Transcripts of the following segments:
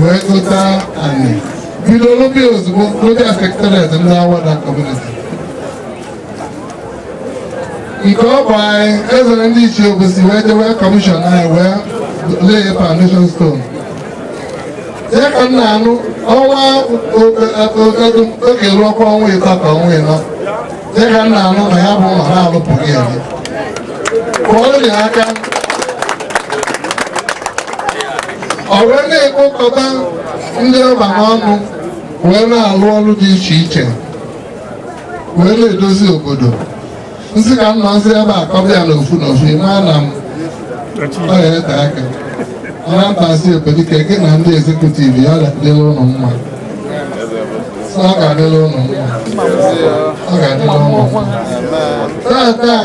wee gota anị bido lụba ya ozugbo n'obi secretariat ndị Awada community nke ọ bụ anyị ezere ndị ichie Obosi wee jewe commission anyị wee lay foundation stone ya ka m na-anụ ọnwa oge ruo ọkwa ọnwa ịtọ ka ọnwa ịnọ dịka m na-anụ na ya bụ ụlọ na-alụpụrụ ya eme kụọrọ ya aka ọ wee na-ekpokọta ndị ọba n'ọnụ wee na-alụ ọrụ dị iche iche wee na-edozi obodo m sị ka m nọzi ebe a kọba ya n'ofu n'ofu ị ma na m ọ ya ete aka ọra mbazi ebedike gị na ndị executive ya ga-adịlị unu mma sọ ọ ga-adịlị unu mma ọ ga-adịlị unu mma tata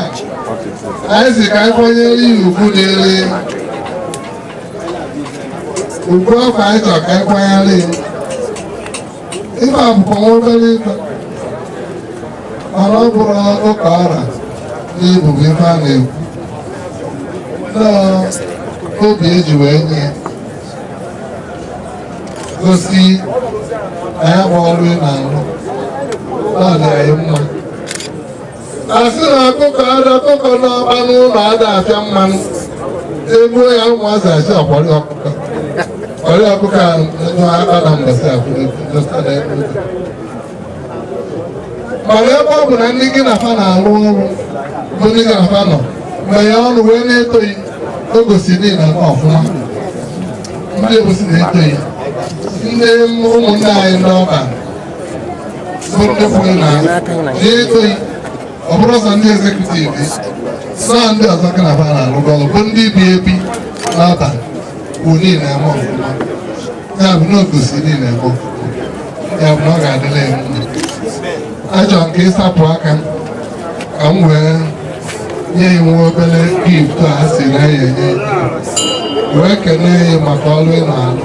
anyị sị ka anyị kwanyere ya ugwu n'elu ugwu ọkwa anyị chọrọ ka anyị kwanyere ya ife a bụkwa nwa obere ife mana ọ bụrọ ka ọ ra n'ibu bụ ife a na-ekwu na ọ obi e ji wee nye ya gosi na ya bụ ọrụ ị na-arụ na ọ dị anyị mma a sị na akụkọ ada akụkọ n'ọba n'ụlọ ada afịa mmanụ egbuo ya ụmụazị asị ọkwari ọkụkọ ọrị ọkụkọ a nwa akpana mbọsị akwụrụ mana ebe ọ bụ na ndị gị na fa na-arụ ọrụ bụ ndị gị na fa nọ mgbe ya ọrụ wee na-eto gị o gosi na ị na-eme ọfụma ndị Obosi na-eto gị ndị ụmụnne anyị n'ọba ndị kwuru na na-eto gị ọ bụrọ sọ ndị executive saa ndị ọzọ ka na bara alụgo ọrụ bụ ndị bi ebi n'Awada kwuru na ị na-eme ọfụma ya bụ na o gosi na ị na-eme ọfụma ya bụ na ọ ga-adịlị gị mma achọrọ m ka ị sapụ aka ka m wee nye gị nwa obere gift a sị na ya enye wee kenee gị maka ọlụ ị na-alụ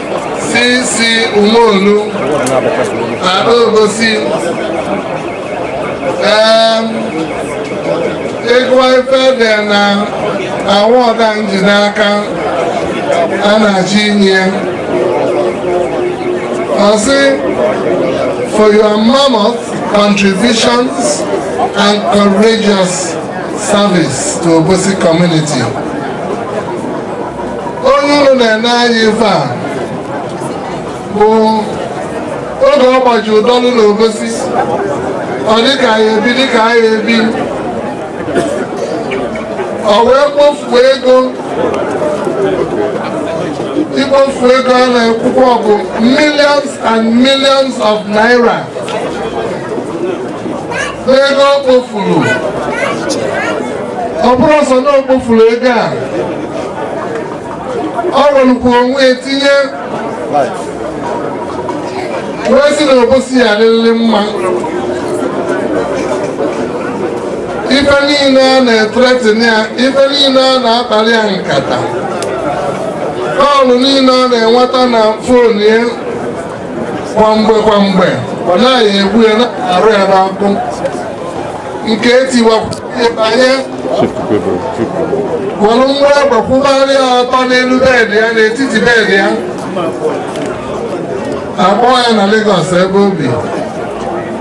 Sisi Umonu na Obosi ịgụwa ife dị na award a m ji n'aka a na-achọ inye ọ sị for your mammoth contributions and courageous service to Obosi community. onye unu na-ene anya ife a bụ oge ọ gbaji ụdọlụ na obosi ọ dịka anyị ebi dịka anyị ebi o wee kpofuo ego ikpofu ego a na-ekwukwa ọ bụ millions and millions of naira n'ego o kpofuru ọ bụrọ sọ na o kpofuru ego a o werekwa onwe ya tinye wee sị na obosi ya adịrịrị mma ife niile a na-ethreaten ya ife niile a na-akpali ya nkata call niile ọ na-enweta na phone ya kwa mgbe kwa mgbe ọ na a ya-egbu ya na-arụ ya n'ọkụ nke etiwakwuye banye were mgbe agbakwụgharị ya ọtọ n'elu bed ya n'etiti bed ya a kpọọ ya na Lagos ebe o bi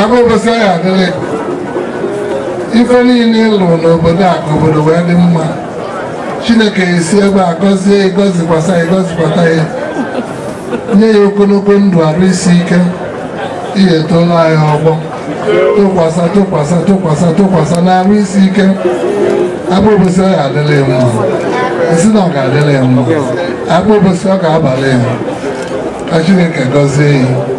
Akpa Obosi ọ ya-adịlị gị. Ife niile ị lụlụ n'obodo a ka obodo wee dị mma. Chineke esi ebe a gọzie gị, gọzikwasa gị, gọzikwata gị. Nye gị ogologo ndụ arụ isi ike. Ihe etoola anyị ọgbọ. Tụkwasa, tụkwasa, tụkwasa, tụkwasa na arụ isi ike. Akpa Obosi ọ ya-adịlị gị mma. Asị na ọ ga-adịlị gị mma. Akpa Obosi ọ ga-abalị gị. Ka Chineke gọzie gị.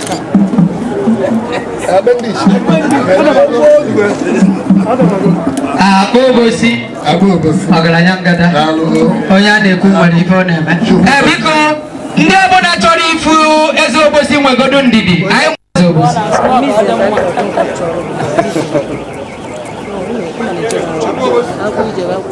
akpa obosi ọgaranya ngada onye a na-ekwu nwere ife ọ na-eme ee biko ndị ọbụla chọrọ ịfụ eze obosi nwegodo ndidi anyị nwe eze obosi Aku je aku.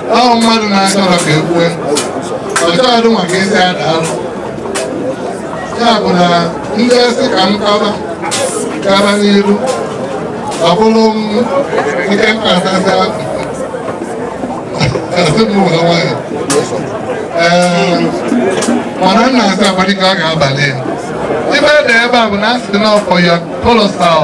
ahụ mmadụ na-achọrọ ka e kwue ọchọghadụ maka ezi ada alụ ya bụ na ndị asị ka m kaba kaba n'iru ọ bụrụ m nke m na-asazi akpụ asị m ụwa nwayọ ee mana m na-asị abalị ka ọ ga-abalị ya ibe dị ebe a bụ na asị na ọfọ ya kolosal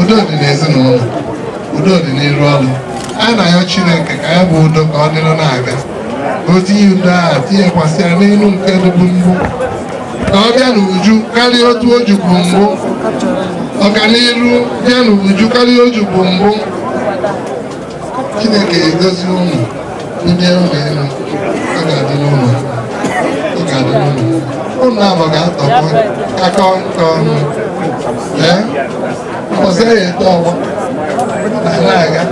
udo dị n'ezinụlọ udo dị n'iru ọrụ a na-ayọ Chineke ka ya bụ udo ka ọ dịrị na-aga o tinye udo ahụ tinyekwasịa n'elu nke dịbu mbụ ka ọ bịa n'uju karịa otu o jubu mbụ ọganiru bịa n'uju karịa o jubu mbụ Chineke egozi ụmụ ndị ụmụ elu ọ ga-adị n'ụlọ ọ ga-adị n'ụlọ ụlọ abụ ga-atọkọ akọ nke ọnụ ee ọzọ ya eto ọgbọ na na-aga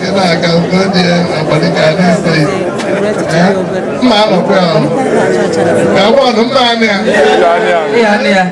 ị na-aga ogo dị ya abalị ka a na-ese ya Ee, mma anọkwa ya ọnụ ka ọ bụ ọnụ mma anụ ya Ịga anị anị.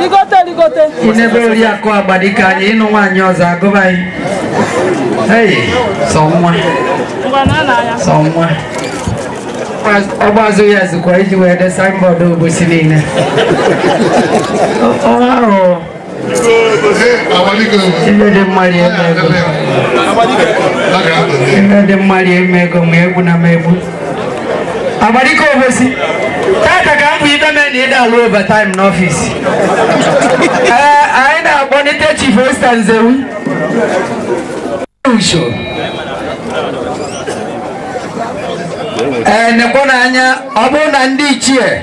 rigote rigote I nebe Oriakụ Agbadike anyị ịnụ nwaanyị ọzọ agụba anyị. Hey, sọ nwa, ngwa na na ya sọ nwa. Ọ gbazụ ya zikwa iji wee de signboard Obosi niile. Ọ- Ọ ahụ ife dị mma rie m ego. Ife dị mma rie m ego ma egwu na m egwu. Agbadike Obosi, tata ka m bụ ibe mee na ịda alụ overtime n'ọfịs. Ee, anyị na-akpọlite Chief Osita Nzewi. Usho. Ee, nekwanụ anya, ọ bụrụ na ndị ichie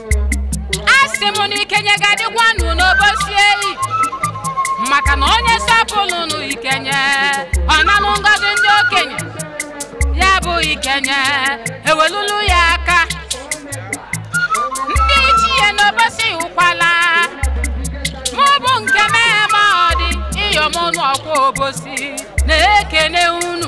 asị m na ikenye ga-adịkwanụ n'obosi eyi maka na onye sọpụlụ nụ ikenye ọ nanụ ngọzi ndị okenye ya bụ ikenye ewelulu ya aka ndị ichie n'obosi ụkwala mụ bụ nke mee ma ọ dị ịyọmọnụ ọkwa obosi na-ekene unu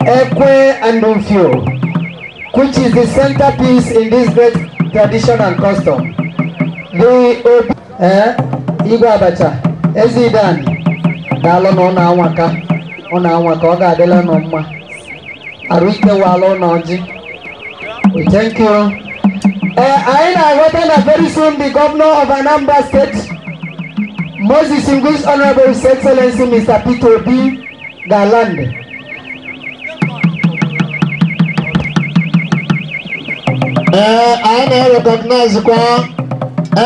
Ekwe and Ufio, which is the centerpiece in this great tradition and custom. The Obi, eh, Igwe Abacha, Ezidan, daalụ nụ unu anwaka, unu anwaka, ọ ga-adịlị unu mma. Arụ ike wala unu ọjị. We thank you. Eh, anyị na-aghọta na very soon the governor of Anambra State, most distinguished Honorable His Excellency Mr. Peter Obi, ga-alandị ee anyị na-erekọgnaizikwa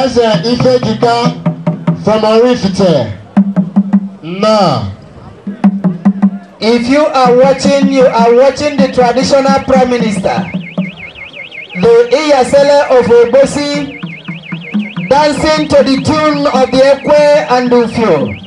eze ifejika from Oraifite now If you are watching, you are watching the traditional prime minister, the Iyasele of Obosi, dancing to the tune of the Ekwe and Ufio.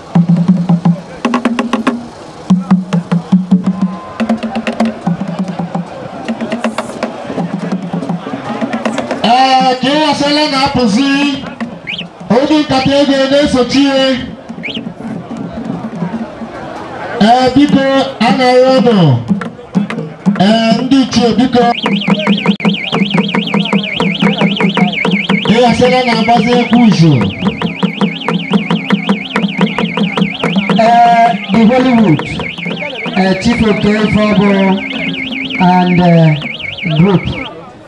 ee ka Iyasele na-apụzi oge nkata ego na-esochi ihe ee biko a na-ayọ unu ee ndị ichie biko ịghasịla na-agbazi egwu uzu ee the hollywood ee chief oke ife ọbụ and ee, group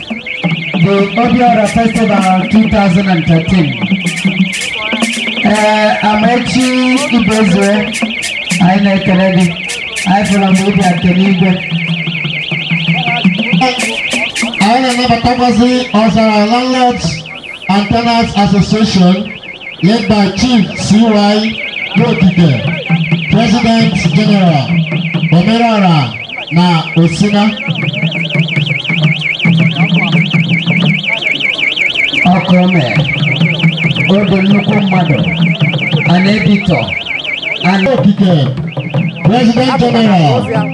the Obiora Festival 2013. Ee, Amaechi Ibezue, anyị na-ekele gị. Anyị fụrụ mgbe ị bịa kene Igwe. Anyị na-anabatakwazi ọzara landlords and Tenants Association led by Chief C.Y. Nwokike, President General Omerọra na Osina. ọkụ o mere o dị nnukwu mmadụ a na-ebitọ a na Nwokike, President General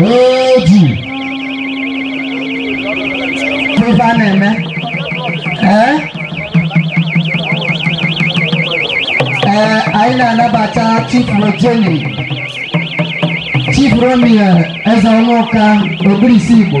eji eme ife a na-eme ee ee anyị na-anabata chief rojenny chief rommy ezeọnwụka ogirisi igbo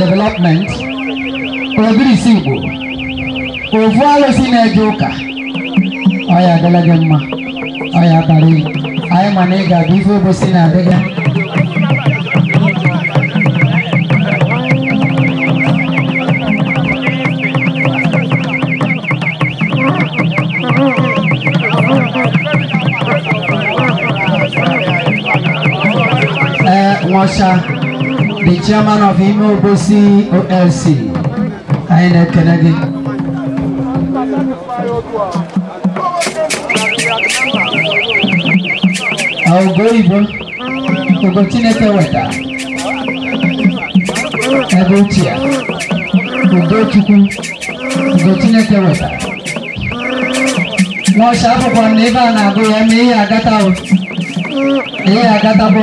development ogirisi igbo ovu alụsị na-eje ụka ọ ya adịlị gị mma ọ ya bara gị anyị ma na ị ga-abịa ife obosi na-adị gị ee nwacha the chairman of Ime Obosi OLC anyị na-ekele gị ugo oyibo ugo chineke weta ebe ochie ugo chukwu ugo chineke weta n'ọcha akwụkwọ na ebe a na-agụ ya ma ihe agata ihe agatabụ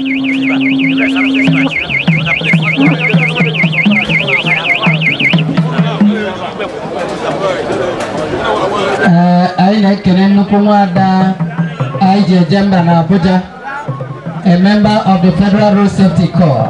Ee, anyị na-ekele nnukwu nwada anyị ji eje mba na Abuja a member of the Federal Road Safety Corps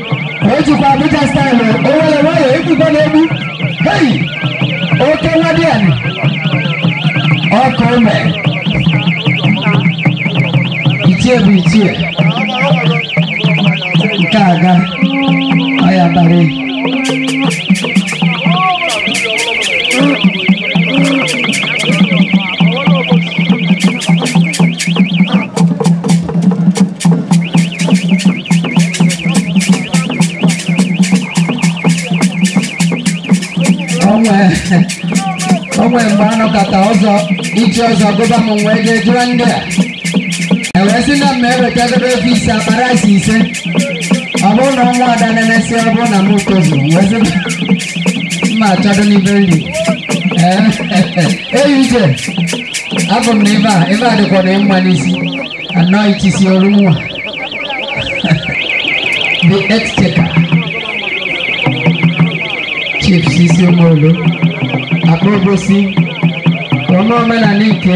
o jikwa abuja staịlụ o were nwayọ ekwukwa n'egbu hei oke nwadiana ọkụ ome ichie bụ ichie nke aga ọya abalị o nwe o nwe mgbe a nọkata ọzọ ichi ọzọ gụba m wee jee jụọ ndị a e wee sị na m eweta debe efi ise akpa rice ise ọ bụrụ na ọnwa ada na-emesị ọ bụrụ na m tozuru wee sị mma achọdo n'ibe nri Eyuze, abụ m na ebe a, ebe a dịkwa na mma n'isi, anọ itisi ọrụ nwa. The Exchequer, Chief Sisi Omolu, Akpa Obosi, ọma omenala ike,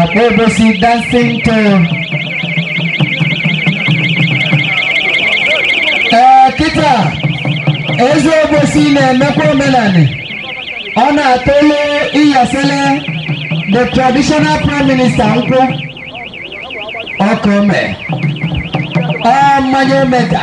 Akpa obosi dancing to ee kịta eze obosi na-emekwa omenani ọ na-atụlụ iyasele the traditional prime minister nkwụ ọkụ mee ọ mmanya omega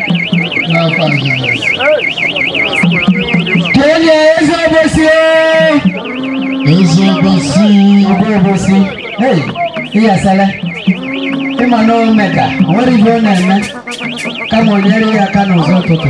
n'afọ kene ya eze obosi eze obosi ugwu obosi hey iyasele ị ma na omega o nwere ihe ọ na-eme kama o nyere ya aka n'ụzọ ụtụtụ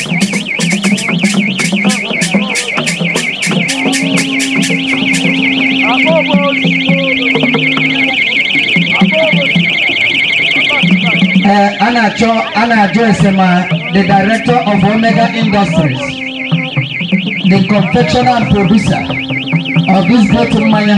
ee a na-achọ a na-ajụ ese ma the director of omega industries the confectioner and producer of this great mmanya